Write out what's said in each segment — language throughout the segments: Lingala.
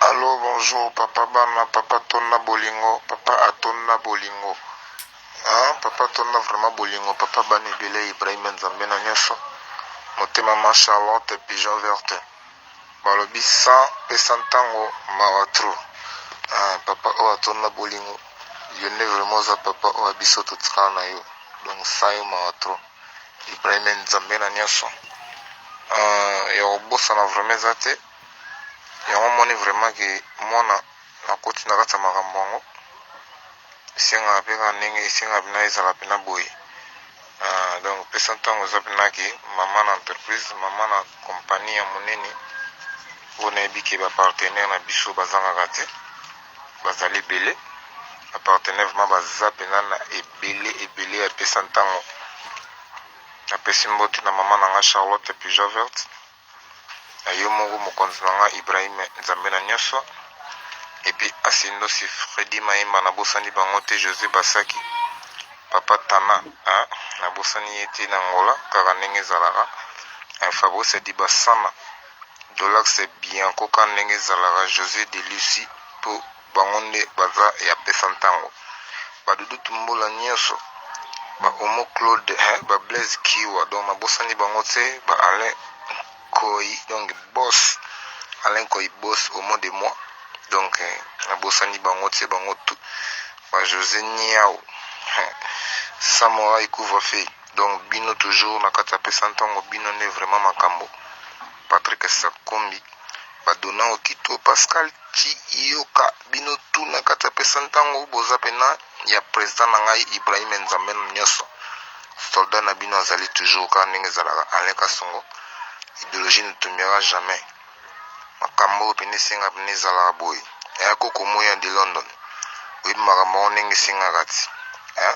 Allo bonjour papa bana papa tonna bolingo papa atonna bolingo ah, papa tonna vraiment bolingo papa bana ebele ibrahim nzambe na nyonso motema ma charlotte pigeon verte balobi sans pesa ntango mawa trop ah, papa oyo atonna bolingo yo nde vraiment oza papa oyo biso totikala na yo donc sans yo mawa trop Ibrahime nzambe na nioson euh ya kobosana vraiment eza te yango omoni vraiment ke mwana akoti na kati ya makambo yango esengaka mpe kaka ndenge esengaka mpena ezala mpena boye euh, donc pesa ntango eza mpena ke mama na entreprise mama na kompani ya monene oyo nayebi ke bapartenaire na biso bazangaka te Bazali ebele ba partenaire vraiment baza pena na ebele ebele ya pesa ntango na pesi mbote na mama na nga Charlotte ya Peugeot verte na yo moko mokonzi na nga Ibrahim Nzambe na nyoso epi asindosi Freddy Maimba na bosani bango te Jose Basaki papa Tana hein? na bosani ye te na Angola kaka ndenge ezalaka Fabrice Dibasana Dolax bien koka ndenge ezalaka Jose de Lucy po bango nde baza ya pesa ntango ba doudou tumbola nioso ba omo Claude hein ba Blaise kiwa donc na bosani bango tse ba Alain Nkoyi donc boss Alain Nkoyi boss omo de moi donc na bosani bango tse bango tout ba Jose niawu hein samorai couvre feu donc bino toujours na kati ya pesa ntongo bino nde vraiment makambo patrick sakombi badona okito pascal ciyoka bino tu na kati ya pesa ntango boza pena ya president na ngai ibrahim nzambe na nyonso soldat na bino azali toujours kaka ndenge ezalaka alain kasongo ideologie ne tombera jamais makambo oyo pene esenga pene ezalaka boye eya kokomoya de london oyebi makambo yango ndenge esengaka ti eh?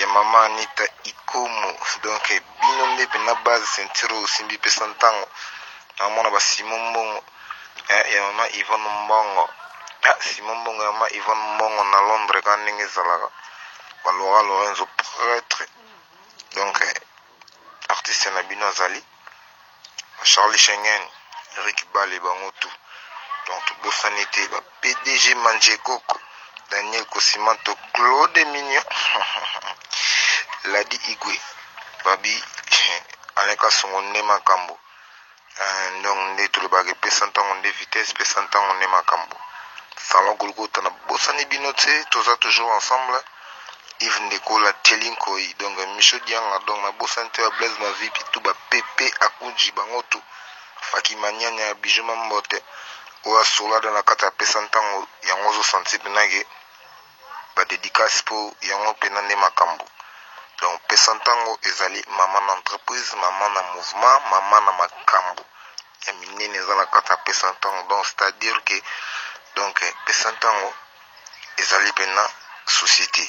ya maman anita ikomo donc bino nde pena base ceinture oyo osimbi pesa ntango namona ba simo mbongo eh, ya mama ivone mbongo ah, simo mbongo ya mama ivone mbongo na londres ka ndenge ezalaka balora lorenzo pretre donc eh, artiste na bino azali charly shengen eric bale bango tout donc tobosani te ba pdg manjekoko daniel kosimanto claude mignon ladi igwe babi alain kasongo nde makambo Ndongo nde tolobaka epesa ntango nde vitesse pesa ntango nde makambo Salon Golgotha na bosani bino tse toza toujours ensemble Yves Ndeko la Theli Nkoyi donc Michaud Dianga donc na bosani te ba Blaise Mavipi tout ba Pepe Akuji bango tout Faki Manyanya Bijou Mambote oyo asolada na kati apesa ntango yango ozo sentir penake ba dedicace po yango pena nde makambu donc pesa tango ezali maman na entreprise maman na mouvement maman na makambu ya minene eza na kati ya pesa tango donc c'est à dire que donc pesa tango ezali pena societe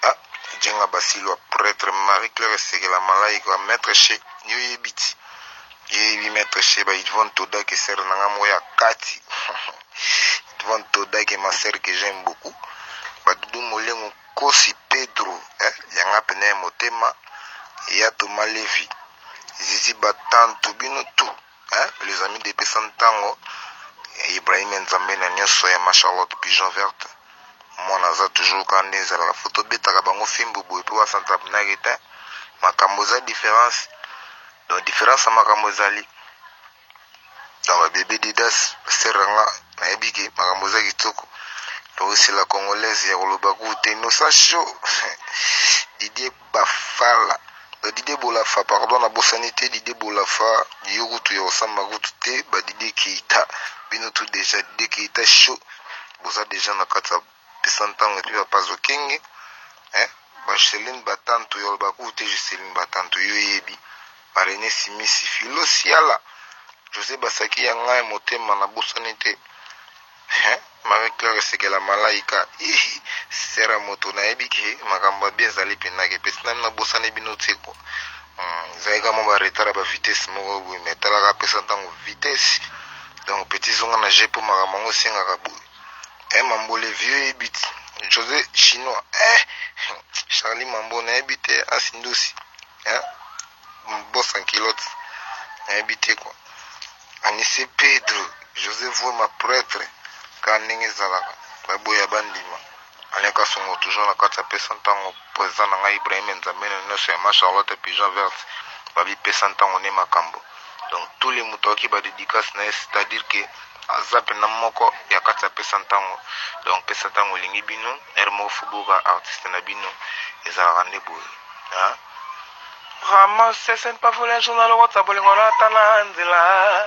ah jenga basilwa pretre marie claire sekela malaika maître chez yo yebiti yebi maître chez ba yvonne toda que sœur na nga moko ya kati Yvan Todak et ma sœur que j'aime beaucoup ba doudou molengo nkosi Pedro eh ya nga pene ya motema ya Thomas Levi Zizi Batantu bino tout eh les amis de pesa ntango Ibrahim Nzambe na nyoso ya ma Charlotte Pigeon Verte mwana aza toujours ka nde ezalaka fo tobetaka bango fimbu boye mpe basantabnage te makambo eza différence donc différence ya makambo ezali Awa bebe Didas sœur na nga nayebi ke makambo eza kitoko tokisi la congolaise ya koloba ku te innocent show Didier Bafala ba Didier Bolafa pardon na bosani te Didier Bolafa yo kutu ya kosamba kutu te ba Didier Keita bino tu deja Didier Keita show boza deja na kati ya Pesa ntango epi papa zokenge eh ba Celine batantu ya olobaka ou te je Celine batantu yo oyebi ba Rene simisi Philo siala Jose basaki ya ngai motema na bosani te eh Marie Claire esekela malaika ihi Sera moto nayebi ke makambo ya bien ezali mpenza ke peti nanu na bosani bino te ko hmm, ezali kaka mwa ba retard ya ba vitesse moko boye mais talaka pesa ntango vitesse donc peti zonga na je mpo makambo yango esengaka boye Eh mambo le vieux ebit Jose chinois eh Charlie mambo na yebi te asindosi eh boss en culotte na yebi te quoi Anise Pedro Jose Voma prêtre ka ndenge ezalaka baboya bandima Alain kasongo toujours na kati apesa ntango president na ngai Ibrahim nzambena nioso ya ma charlotte pigeon verte babi pesa ntango ne makambo donc tous les moto ayoki ba dedicace na ye c'est à dire que aza pena moko ya kati apesa ntango donc pesa ntango olingi bino heure moko fubuka artiste na bino ezalaka nde boye hein? Vraiment, c'est pas voler un journal, whatsapp, bolingo na tana nzela.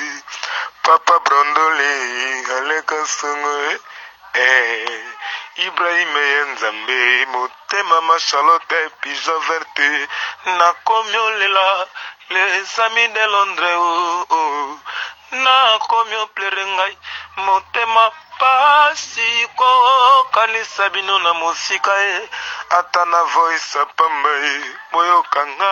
Papa Brondole aleka songo eh, eh. Ibrahim ye nzambe motema ma Charlotte pija verte nakomi olela les amis de Londres oh, oh. nakomi oplere ngai motema pasi kokanisa bino na mosika ye eh. ata na voice pamba ye eh. boyokanga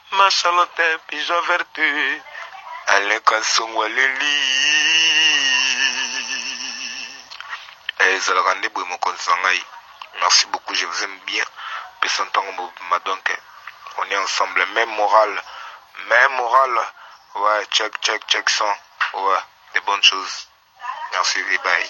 Masolo te pigeon vertu aleka nsongo aleli eh, ezalaka nde boye mokonzi na ngai merci beaucoup je vous aime bien pesa ntango mobima donc on est ensemble même moral même moral ouais check check check son ouais des bonnes choses merci bye